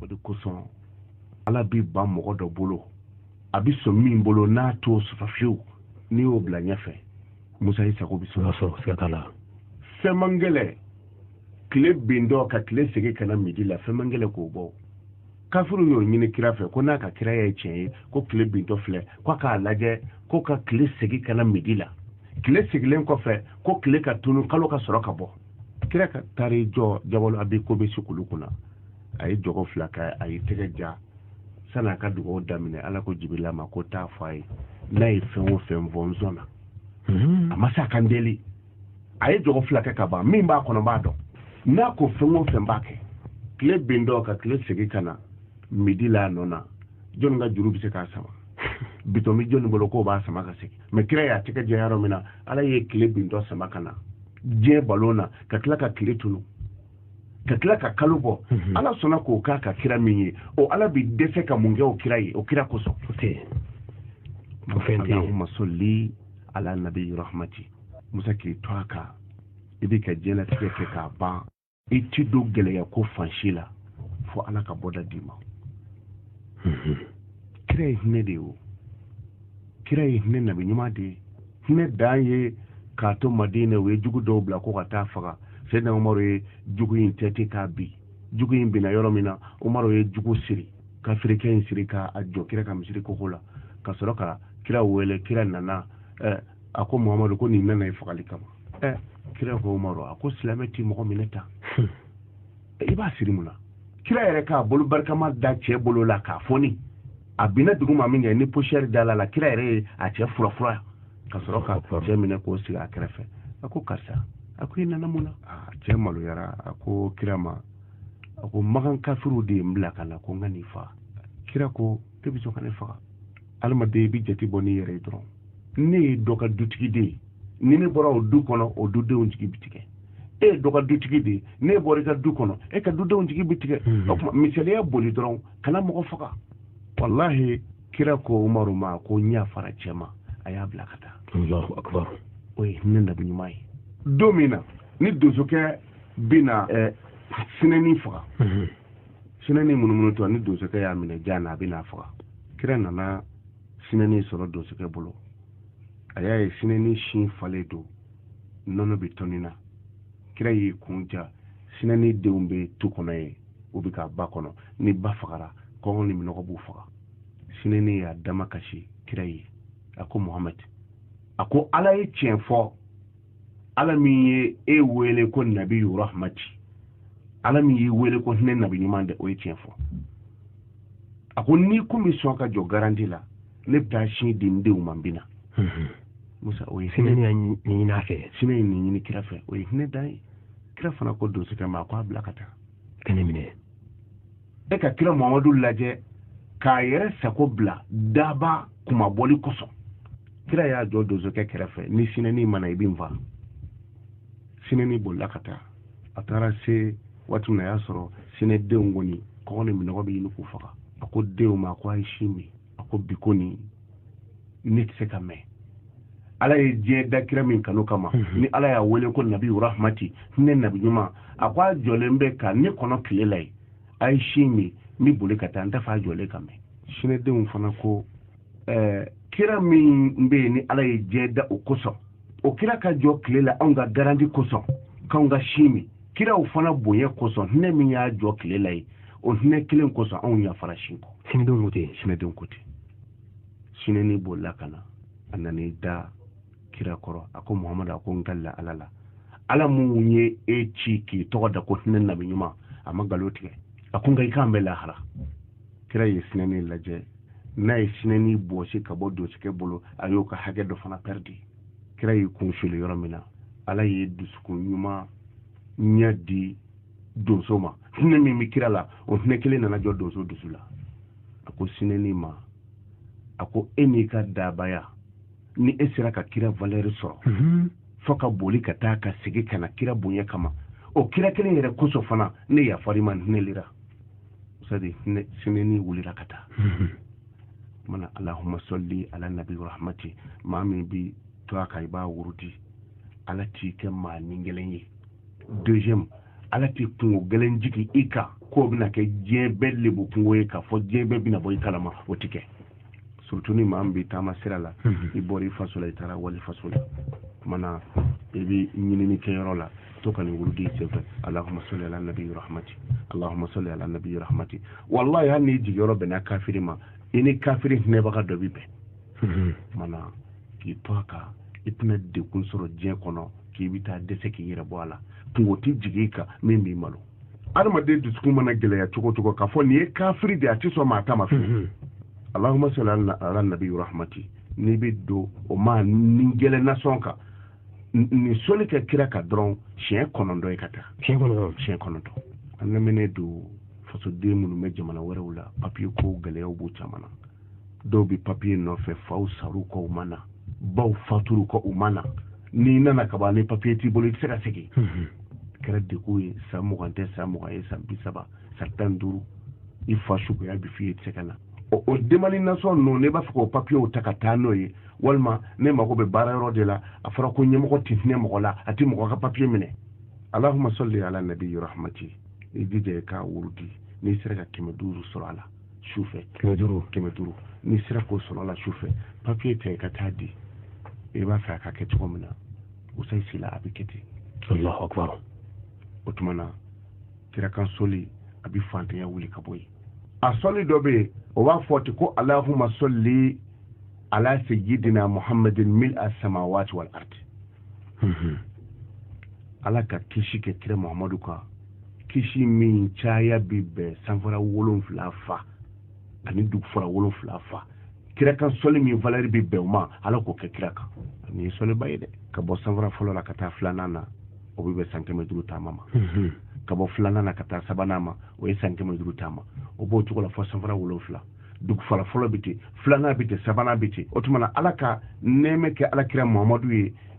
o de kosɔn ala b'i ban mɔgɔ dɔ bolo a bɛ sɔn min bolo n'a t'o sɔrɔ fiyewu n'i y'o bila ɲɛfɛ musa i sago bɛ sɔrɔ siga t'a la fɛn man gɛlɛ tile bintɔ ka tile segi ka na midi la fɛn man gɛlɛ k'o bɔ kafiriw y'o ɲini kira fɛ ko n'a ka kira ye tiɲɛ ye ko tile bintɔ filɛ ko k'a lajɛ ko ka tile segi ka na midi la tile segilen kɔfɛ ko tile ka tunu kalo ka sɔrɔ ka bɔ kira ka taar'i jɔ jabalo abi kubɛsi kulu kunna a ye jɔgɔ fila kɛ a y'i tɛgɛ ja sani a ka dugawu daminɛ ala ko jibirila ma ko taa fɔ a ye n'a ye fɛn o fɛn fɔ n sɔnna a ma se ka n deli a ye jɔgɔ fila kɛ ka ban min b'a kɔnɔ n b'a dɔn n'a ko fɛn o fɛn n b'a kɛ tile bintɔ ka tile segin ka na midi la a nɔ na jɔnni ka juru bɛ se k'a sama bitɔn bɛ jɔnni bolo k'o b'a sama ka segin mɛ kira y'a tɛgɛ ja yɔrɔ min na ala ye tile bintɔ sama ka na diɲɛ balon na ka tila ka tile tunu ka tila ka kalo bɔ mhm. ala sɔnna k'o k'a ka kira min ye o ala bi dɛsɛ ka mun kɛ o kira ye o kira kosɔn allahumma salli ala nabi rahmati musa k'i to a kan i b'i ka diɲɛlatigɛ kɛ k'a ban i ti don gɛlɛya ko fan si la fo ala ka bɔda d'i ma mhm. kira ye hinɛ de ye o kira ye hinɛ nabi ɲuman de ye hinɛ dan ye k'a to madina u ye jugu dɔw bila ko ka taa faga sɛdina umaru ye jugu in tɛti k'a bin jugu in binna yɔrɔ min na umaru ye jugu siri kafirikɛ in siri k'a jɔ kira ka misiri koko la ka sɔrɔ ka kira wele kira nana eh, a ko muhamadu ko nin nana i fagali kama eh. kira ko umaru a ko silamɛ ti mɔgɔ minɛ tan hmm. i b'a siri mun na kira yɛrɛ k'a bolo barikama da cɛ bolo la k'a foni a binna dugu ma min kɛ ni posiyɛri dal'a la kira yɛrɛ ye a cɛ furafura ka sɔrɔ ka cɛ minɛ k'o sigi a kɛrɛfɛ a ko karisa a ko i nana mun na cɛ maloyara a ko kira ma a ko makan kafiriw de ye n bila ka na ko n ka n'i faga kira ko e bɛ sɔn ka ne faga adamaden i bɛ jate bɔ n'i yɛrɛ ye dɔrɔn ne ye dɔ ka dutigi de ye ni ne bɔra o du kɔnɔ o dudenw jigi bɛ tigɛ e ye dɔ ka dutigi de ye n'e bɔra i ka du kɔnɔ e ka dudenw jigi bɛ tigɛ o tuma misaliya boli dɔrɔn kana mɔgɔ faga walahi kira ko umaru ma ko n yafara cɛ ma a y'a bila ka taa o ye hinɛ nabi ɲuman ye don min na ni donsokɛ bɛ na sinɛni faga sinɛni munumunutɔ ni donsokɛ y'a minɛ jan na a bɛ n'a faga kira nana sinɛni sɔrɔ donsokɛ bolo a y'a ye sinɛni sin falen don nɔnɔ bɛ tɔni na kira y'i kun ja sinɛni denw bɛ tu kɔnɔ yen u bɛ ka ba kɔnɔ ni ba fagara kɔngɔ ni minɔgɔ b'u faga sinɛni y'a damakasi kira ye a ko muhamadi a ko ala ye tiɲɛ fɔ ala min ye e wele ko nabi rahmati ala min y'i wele ko hinɛ nabi ɲuman de o ye tiɲɛ fɔ a ko n'i kun bɛ sɔn ka jɔ garanti la ne bɛ taa sin di n denw ma n bɛ na mhm. musa o ye hinɛ ɲini a fɛ sinɛ ye nin ɲini kira fɛ o ye hinɛ dan ye kira fana ko donsokɛ ma a ko a bila ka taa ka ne minɛ e ka kira muhamadu lajɛ k'a yɛrɛ sago bila daba kumabali kosɔn kira y'a jɔ donsokɛ kɛrɛfɛ ni sinɛni ma na i bɛ n faa sinɛni bolila ka taa a taara se waati min na a y'a sɔrɔ sinɛdenw kɔni kɔngɔ ni minnɔgɔ bɛ ɲini k'u faga a ko denw ma ko a ye sin min a ko bi kɔni ne tɛ se ka mɛn ala ye diɲɛ da kira min kanu kama mhm. ni ala y'a wele ko nabi rahmati hinɛ nabi ɲuman a ko a jɔlen bɛ ka ne kɔnɔ tile la yen a ye sin min n bɛ boli ka taa n t'a fɛ a jɔlen ka mɛn sinɛdenw fana ko ɛɛ kira min bɛ yen ni ala ye diɲɛ da o kosɔn o kira ka jɔ tile la anw ka garanti kosɔn k'anw ka sin min kiraw fana bonya kosɔn hinɛ min y'a jɔ tile la yen o hinɛ kelen kosɔn anw yafara sin kɔ sinɛdenw ko ten sinɛdenw ko ten sinɛni bolila ka na a nan'i da kira kɔrɔ a ko muhamadu a ko n kalila ala la ala min ye e ci k'i tɔgɔ da ko hinɛ nabi ɲuman a ma nkalon tigɛ a ko nka i k'an bɛ lahara kira ye sinɛni lajɛ n'a ye sinɛni bɔsi ka bɔ donsokɛ bolo a y'o ka hakɛ dɔ fana pɛridi kira y'i kun suli yɔrɔ min na ala ye dusukun ɲumanya di donso ma hinɛ min bɛ kira la o hinɛ kelen nana jɔ donso dusu la a ko sinɛni ma a ko e n'i ka dabaya ni e sera ka kira valeur sɔrɔ mhm. fo ka boli ka taa ka segin ka na kira bonya kama o kira kelen yɛrɛ kosɔn fana ne yafar'i ma hinɛlira sadi sinɛni wulila ka taa mana allahumma salli ala nabi rahmati maa min b'i to a kan i b'a wurudi ala t'i kɛ maa nigɛlɛn ye deuxième ala tɛ kunko gɛlɛn jigi i kan k'o bɛna kɛ diɲɛ bɛɛ lebu kunko ye k'a fɔ diɲɛ bɛɛ bɛna bɔ i kalama o ti kɛ surtout ni maa min bɛ taama sira la mhm. i bɔra i faso la i taara wali faso la mana i bɛ ɲinini kɛ yɔrɔ la to ka nin wurudi senfɛ allahumma salli ala nabi rahmati allahumma salli ala nabi rahmati wallahi hali n'i jigiyɔrɔ bɛnna kafiri ma i ni kafiri hinɛbaga dɔ bɛ bɛn mhm. mana k'i to a kan i tɛna degun sɔrɔ diɲɛ kɔnɔ k'i bɛ taa dɛsɛ k'i yɛrɛ bɔ a la kunko tɛ jigin i kan min b'i malo adamaden dusukun mana gɛlɛya cogo cogo k'a fɔ nin ye kafiri de a tɛ sɔn maa ta ma fiyewu allahumma salli ala nabi rahmati n'i bɛ don o maa nigɛlɛn na sɔn ka nin soli kɛ kira kan dɔrɔn siɲɛ kɔnɔntɔn ye ka taa siɲɛ kɔnɔntɔn siɲɛ kɔnɔntɔn an lamɛnnen don fasoden minnu bɛ jamana wɛrɛw la papiye ko gɛlɛyaw b'u caman na dɔw bɛ papiye nɔfɛ faw sar'u kɔ u ma na baw fatur'u kɔ u ma na n'i nana ka ban ni papiye t'i bolo i tɛ se ka segin mhm. kɛra degun ye san mugan tɛ san mugan ye san bi saba san tan duuru i fa suguya bi f'i ye i tɛ se ka na o o demande nasɔn ninnu ne b'a fɛ k'o papiyew ta ka taa n'o ye walima ne mago bɛ baara yɔrɔ de la a fɔra ko ɲɛmɔgɔ tɛ hinɛ mɔgɔ la a tɛ mɔgɔ ka papiye minɛ alahuma sɔli ala nabi rahmati i jija i k'a wurudi n'i sera ka kɛmɛ duuru sɔrɔ a la sufɛ kɛmɛ duuru kɛmɛ duuru n'i sera k'o sɔrɔ a la sufɛ papiye ta i ka taa di i b'a fɛ a ka kɛ cogo min na ustaz sila a bɛ kɛ ten alahu akbar o tuma na kira kan sɔli a bɛ fantanya wuli ka bɔ yen a sɔli dɔ bɛ yen o b'a fɔ ten ko alahuma sɔli ala sayyidina muhammadin mil a samawati wal ardi mhm. ala ka kisi kɛ kira muhammadu kan kisi min caya bɛ bɛn sanfara wolonfila fa ani dugufara wolonfila fa kira kan sɔli min valɛri bɛ bɛn o ma ala k'o kɛ kira kan nin ye sɔliba ye dɛ ka bɔ sanfara fɔlɔ la ka taa filanan na o bɛ bɛn san kɛmɛ duuru taama ma mhm. ka bɔ filanan na ka taa sabanan ma o ye san kɛmɛ duuru taama o b'o cogo la fo sanfara wolonfila dugufara fɔlɔ bɛ ten filanan bɛ ten sabanan bɛ ten o tuma na ala ka nɛɛma kɛ alakira muhamadu ye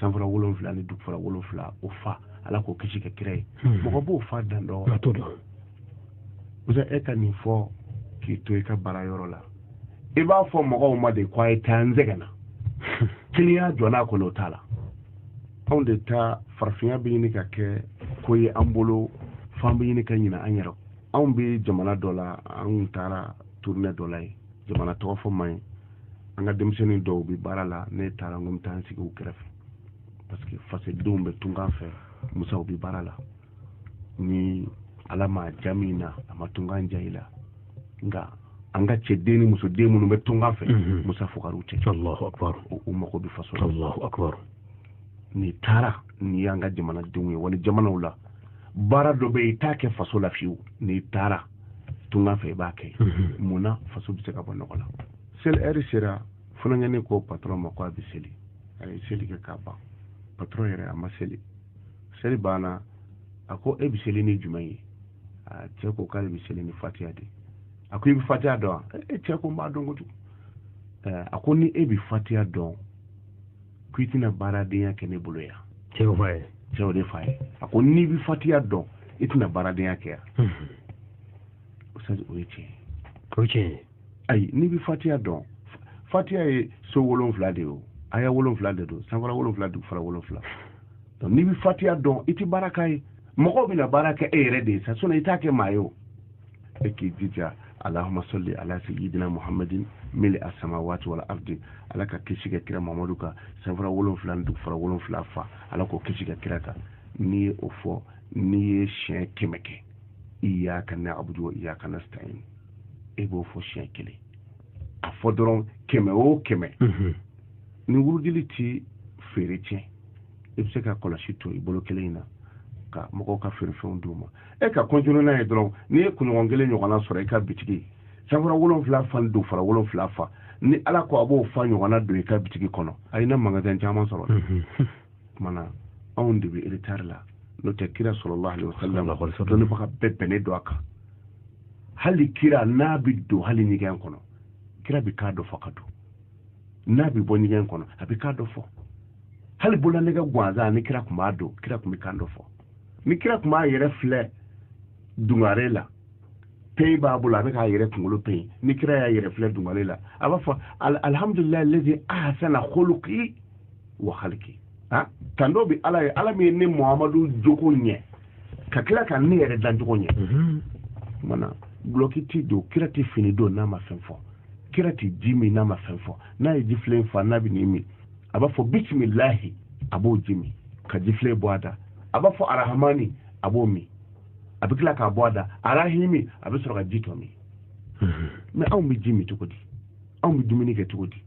sanfara wolonfila ni dugufara wolonfila o fa ala k'o kisi kɛ kira ye hmm. mɔgɔ b'o fa dan dɔ musa e ka nin fɔ k'i to i ka baara yɔrɔ la i b'a fɔ mɔgɔw ma de ko a ye taa n sɛgɛnna kiliyan jɔ n'a kɔnɔ o t'a la anw de ta farafinya bɛ ɲini ka kɛ ko ye an bolo f'an bɛ ɲini ka ɲina an yɛrɛ anw bɛ jamana dɔ la an taara turune dɔ la yen jamana tɔgɔ fɔ man ɲi an ka denmisɛnnin dɔw bɛ baara la ne taara n ko n bɛ taa n sigi u kɛrɛfɛ parce que fasodenw bɛ tunkan fɛ musaw bɛ baara la ni ala ma ja min na a ma tunkan ja i la nka an ka cɛden ni musoden minnu bɛ tunkan fɛ mhm. musa fugariw tɛ u mago bɛ faso la n'i taara n'i y'an ka jamanadenw ye wali jamanaw la baara dɔ bɛ yen i t'a kɛ faso la fiyewu n'i taara tunga fɛ i b'a kɛ mhm. mun na faso bɛ se ka bɔ nɔgɔ la seli ɛri sera funankɛnin ko patɔrɔn ma ko a bɛ seli a ye seli kɛ k'a ban patɔrɔn yɛrɛ a ma seli seli banna a ko e bɛ seli ni jumɛn ye a cɛ ko k'ale bɛ seli ni fatiya de a ko i bɛ fatiya dɔn wa e cɛ ko n b'a dɔn kojugu a ko ni e bɛ fatiya dɔn ko i tɛna baaradenya kɛ ne bolo yan cɛw fa ye cɛw de fa ye a ko n'i bɛ fatiya dɔn i tɛna baaradenya kɛ yan ustaz o ye tiɲɛ ye o ye tiɲɛ ye ayi n'i bɛ fatiya dɔn fatiya ye so wolonfila de ye o aya wolonfila de don sanfara wolonfila dugufara wolonfila donc n'i bɛ fatiya dɔn i tɛ baara k'a ye mɔgɔw bɛna baara kɛ e yɛrɛ de ye sa sinɔn i t'a kɛ maa ye o e k'i jija allahuma sɔli ala sayidina muhammadin mili a samawati wal ardi ala ka kisi kɛ kira mamadu kan sanfara wolonfila ni dugufara wolonfila fa ala k'o kisi kɛ kira kan n'i ye o fɔ n'i ye siɲɛ kɛmɛ kɛ iyaka na'budu wa iyaka nasta'in e b'o fɔ siɲɛ kelen a fɔ dɔrɔn kɛmɛ o kɛmɛ mhm. nin wurudili ti feere tiɲɛ i bɛ se ka kɔlɔsi to i bolo kelen in na ka mɔgɔw ka feerefɛnw d'u ma e ka kɔntinu n'a ye dɔrɔn n'i ye kunɲɔgɔn kelen ɲɔgɔnna sɔrɔ i ka bitigi sanfara wolonfila fa dugufara wolonfila fa ni ala ko a b'o fa ɲɔgɔnna don i ka bitigi kɔnɔ a ye na magasin caman sɔrɔ kumana anw de bɛ retard la n'o tɛ kira sallallahu alaihi wasallam dɔnnibaga bɛɛ bɛnnen don a kan hali kira n'a bɛ don hali ɲɛgɛn kɔnɔ kira bɛ kan dɔ fɔ ka don n'a bɛ bɔ ɲɛgɛn kɔnɔ a bɛ kan dɔ fɔ hali bololanɛgɛ gansan ni kira tun b'a don kira tun bɛ kan dɔ fɔ ni kira tun b'a yɛrɛ filɛ dungare la peyi b'a bolo a bɛ k'a yɛrɛ kunkolo peyi ni kira y'a yɛrɛ filɛ dungare la a b'a fɔ alihamudulilayi lezi ahasana kuluki wa haliki ah, tando bɛ ala ye ala min ye ne muhamadu jogo ɲɛ ka tila ka ne yɛrɛ dancogo ɲɛ mhm. mana gulɔki ti don kira tɛ fini don n'a ma fɛn fɔ kira tɛ ji min n'a ma fɛn fɔ n'a ye jifilen fa n'a bɛ n'i min a b'a fɔ bisimilahi a b'o ji min ka jifilen bɔ a da a b'a fɔ arahamani a b'o min a bɛ tila k'a bɔ a da arahimi a bɛ sɔrɔ ka ji tɔ min mhm. mɛ anw bɛ ji min cogo di anw bɛ dumuni kɛ cogo di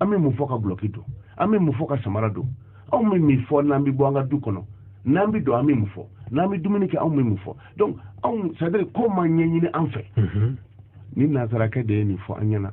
an bɛ mun fɔ ka gulɔki don an bɛ mun fɔ ka samara don anw bɛ mun fɔ n'an bɛ bɔ an ka du kɔnɔ n'an bɛ don an bɛ mun fɔ n'an bɛ dumuni kɛ anw bɛ mun fɔ donc anw c'est à dire ko ma ɲɛɲini an fɛ mhm. ni nansara kɛ de ye nin fɔ an ɲɛna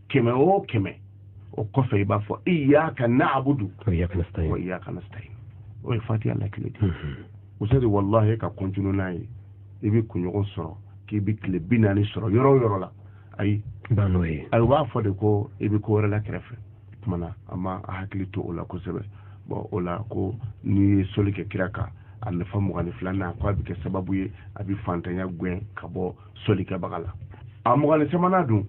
kɛmɛ o kɛmɛ o kɔfɛ i b'a fɔ iyaka na'budu wa iyaka nasta'in o ye fatiha lakile de usadi walahi ka kɔntinu n'a ye i bɛ kunɲɔgɔn sɔrɔ k'i bɛ tile bi naani sɔrɔ yɔrɔ o yɔrɔ la ayi n'o ye ayi u b'a fɔ de ko i bɛ ko wɛrɛ la kɛrɛfɛ tuma na an ma a hakili to o la kosɛbɛ bɔn o la ko n'i ye soli kɛ kira kan a nafa mugan ni filanan ko a bɛ kɛ sababu ye a bɛ fantanya gɛn ka bɔ solikɛbaga la a mugan ni sabanan dun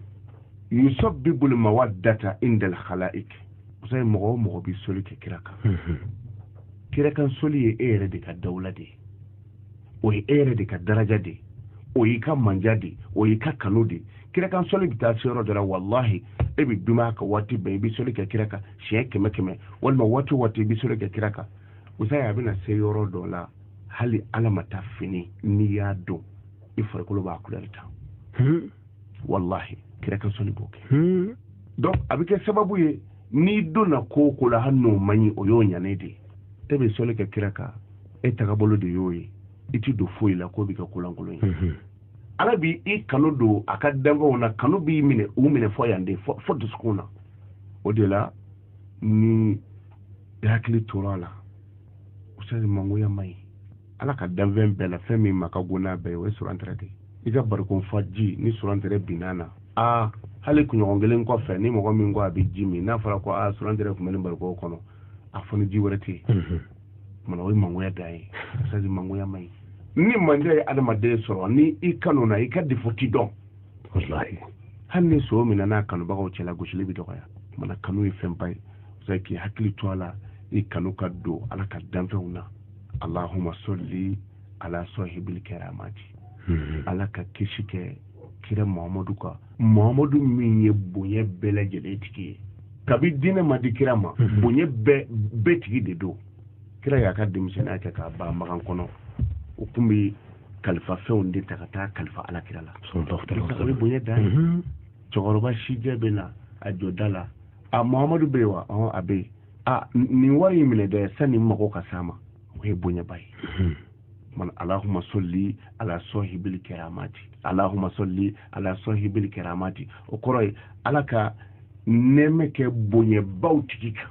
yusabbibul mawaddata indal khalaik musa ye mɔgɔ o mɔgɔ bi soli kɛ kira kan mhm. kira kan soli ye e yɛrɛ de ka dawula de ye o ye e yɛrɛ de ka daraja de ye o y'i ka manja de ye o y'i ka kanu de ye kira kan soli bɛ taa se yɔrɔ dɔ la walahi e bɛ dumaya ka waati bɛɛ i bɛ soli kɛ kira kan siɲɛ kɛmɛ kɛmɛ walima waati o waati i bɛ soli kɛ kira kan musa ye a bɛna se yɔrɔ dɔ la hali ala ma taa fini n'i y'a don i farikolo b'a kulɛri ta hmm. wallahi kira ka sɔli b'o kɛ hmm. donc a bɛ kɛ sababu ye n'i donna ko o ko la hali n'o man ɲi o y'o ɲanen de ye e bɛ sɔli kɛ kira kan e tagabolo de y'o ye i ti don foyi la k'o bɛ kɛ kolankolon ye hmm. ala bi i kanu don a ka danfɛnw na kanu b'i minɛ u minɛ fɔ yan de fɔ dusukun na o de la ni i hakili tora a la usani mangoya man ɲi ala ka danfɛn bɛɛ la fɛn min ma ka go n'a bɛɛ o ye surantɛrɛ de i ka barikon fa ji ni surantɛrɛ binna a na hali kunɲɔgɔn kelen kɔfɛ ni mɔgɔ min ko a bɛ ji min n'a fɔra ko surantɛrɛ tun bɛ nin barikon kɔnɔ a fɔ ni ji wɛrɛ tɛ yen tuma na o ye mangoya dan ye saji mangoya man ɲi ni mandiya ye adamaden sɔrɔ ni i kanuna i ka defo ti dɔn hali ni son minɛna a kanubagaw cɛla gosili bɛ dɔgɔya tuma na kanu ye fɛnba ye k'i hakili to a la i kanu ka don ala ka danfɛnw na allahuma solli ala sohibil keramati hmm. ala ka kisi kɛ kira muhamadu kan muhamadu min ye bonya bɛɛ lajɛlen tigi ye kabi diinɛ ma di kira ma hmm. bonya bɛɛ tigi de don kira y'a ka denmisɛnninya kɛ k'a ban makan kɔnɔ o tun bɛ kalifa fɛnw de ta ka taa kalifa ala kira la o ye bonya dan ye hmm. cɛkɔrɔba sijɛ bɛ na a jɔ da la a muhamadu bɛ yen wa a bɛ yen a nin wari in minɛ dɛ sani mago ka s'a ma o ye bonyaba ye hmm. man alahuma sɔli ala sɔhibili kɛramati alahuma sɔli ala sɔhibili kɛramati o kɔrɔ ye ala ka nɛɛmɛ kɛ bonyabaw tigi kan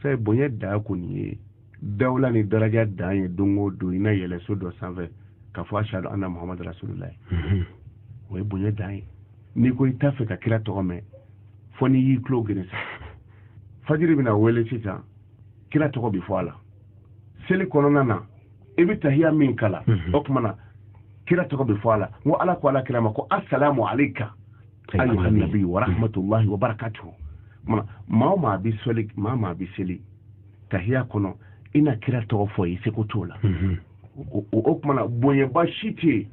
fɛ bonya dan kɔni ye dawula ni daraja dan ye don o don i na yɛlɛ so dɔ sanfɛ ka fɔ ashadu anna muhamadu rasululayi hmm. o ye bonya dan ye n'i ko i t'a fɛ ka kira tɔgɔ mɛn fɔ n'i y'i tulo geren sa fajiri bɛna wele sisan kira tɔgɔ bɛ fɔ a la seli kɔnɔna na i bɛ tahiya min kalan mhm. o tuma na kira tɔgɔ bɛ fɔ a la n ko ala ko ala kira ma ko asalamu aleyka ayyuha nabi wa rahmatullahi wa barakatuhu tuma maa o maa bɛ seli maa o maa bɛ seli tahiya kɔnɔ i na kira tɔgɔ fɔ i seko t'o la mhm. o tuma na bonyaba si tɛ yen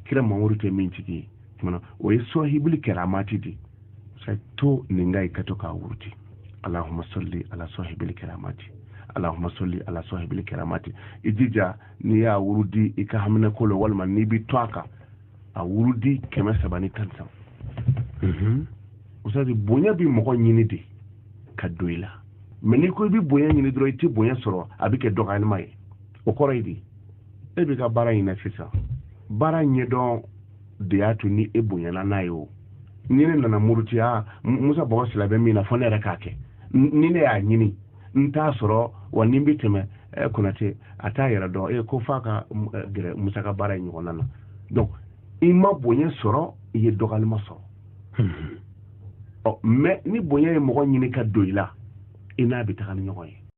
kira mamadu tɛ min tigi ye tuma na o ye sɔhibuli kɛramati de sa to nin kan ka to k'a wurudi alahuma sɔli ala sɔhibuli kɛramati alahuma sɔli ala sɔhibuli kɛramati i jija n'i y'a wurudi i ka haminako la walima n'i bɛ to a kan a wurudi kɛmɛ saba ni tan saba mhm. usadi bonya bɛ mɔgɔ ɲini de ka don i la mais n'i ko i bɛ bonya ɲini dɔrɔn i tɛ bonya sɔrɔ a bɛ kɛ dɔgɔyalima ye o kɔrɔ ye di e bɛ ka baara in na sisan baara ɲɛdɔn de y'a to ni e bonyana n'a ye o ni ne nana murutiya musa bɔgɔ sila bɛ min na fɔ ne yɛrɛ k'a kɛ ni ne y'a ɲini n t'a sɔrɔ wa ni n bɛ tɛmɛ eh, konate a t'a yɛrɛ dɔn e ko f'a ka eh, gɛrɛ musa ka baara in ɲɔgɔnna na donc i ma bonya sɔrɔ i ye dɔgɔyalima sɔrɔ hmm. ɔ mais ni bonya ye mɔgɔ ɲini ka don i la i n'a bɛ taga ni ɲɔgɔn ye